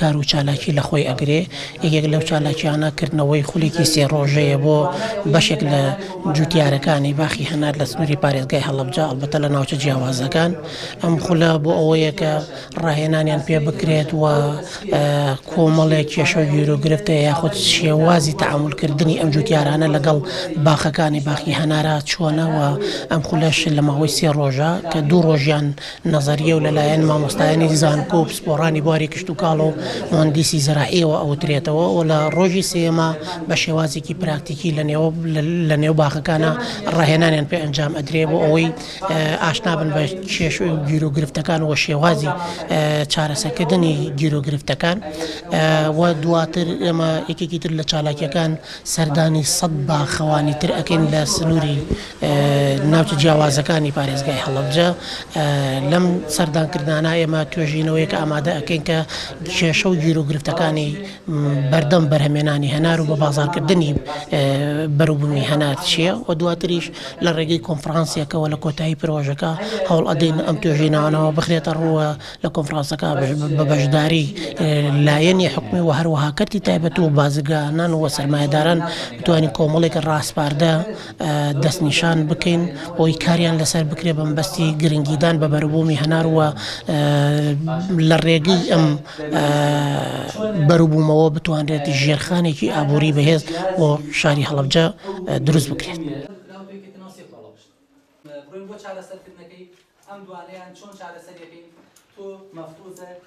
کار و چالاکی لە خۆی ئەگرێ، یەکێک لەو چالاکیانە کردنەوەی خولێکی سێ ڕۆژەیە بۆ بەشێک لە جووتیارەکانی باخی هەنار لە سنووری پارێزگای هەڵەبجە ئەڵبەتە لە ناوچە جیاوازەکان، ئەم خولە بۆ ئەوەیە کە ڕاهێنانیان پێ بکرێت و کۆمەڵێک کێشە و گیروگرفت یاخود شێوازی تەعامول کردنی ئەم جووتیارانە لەگەڵ باخەکانی باخی هەنارە چۆنە و ئەم خولەش لە ماوەی سێ ڕۆژە کە دوو ڕۆژیان نەزەرییە و لەلایەن مامۆستایانی زانکۆ و پسپۆڕانی بواری کشتوکاڵ و موهەندیسی زەراعییەوە ئەوترێتەوە و لە ڕۆژی سێیەما بە شێوازێکی پراکتیکی لە نێو باخەکانە ڕاهێنانیان پێ ئەنجام ئەدرێ بۆ ئەوەی ئاشنا بن بە کێش و گیر و گرفتەکان و شێوازی چارەسەکردنی گیر و گرفتەکان و دواتر ئێمە یەکێکی تر لە چالاکیەکان سەردانی سەد باخەوانی تر ئەکەین لە سنووری ناوچە جیاوازەکانی پارێزگای هەڵەبجە. لەم سەردانکردنانە ئێمە توێژینەوەیەک ئامادە ئەکەین کە کێشە و گیروگرفتەکانی بەردەم بەرهەمێنانی هەنار و بەبازاڕکردنی بەروبوومی هەنار چییە و دواتریش لە ڕێگەی کۆنفرانسێکەوە لە کۆتایی پرۆژەکە هەوڵ ئەدەین ئەم توێژینەوانەوە بخرێتە ڕوو و لە کۆنفرانسەکە بە بەشداری لایەنی حکومی و هەروەها کەرتی تایبەت و بازرگانان و سەرمایەداران بتوانین کۆمەڵێک ڕاسپاردە دەستنیشان بکەین بۆی کاریان لەسەر بکرێ بە مەبەستی گرنگیدان بە بەروبوومی هەنار و لە ڕێگەی ئەم بەروبوومەوە بتوانرێت ژێرخانێکی ئابووری بەهێز بۆ شاری هەڵەبجە دروست بکرێت. بڕۆین بۆ چارەسەرکردنەکەی ئەم دوانەیان چۆن چارەسەریەکەین تۆ مەفروزە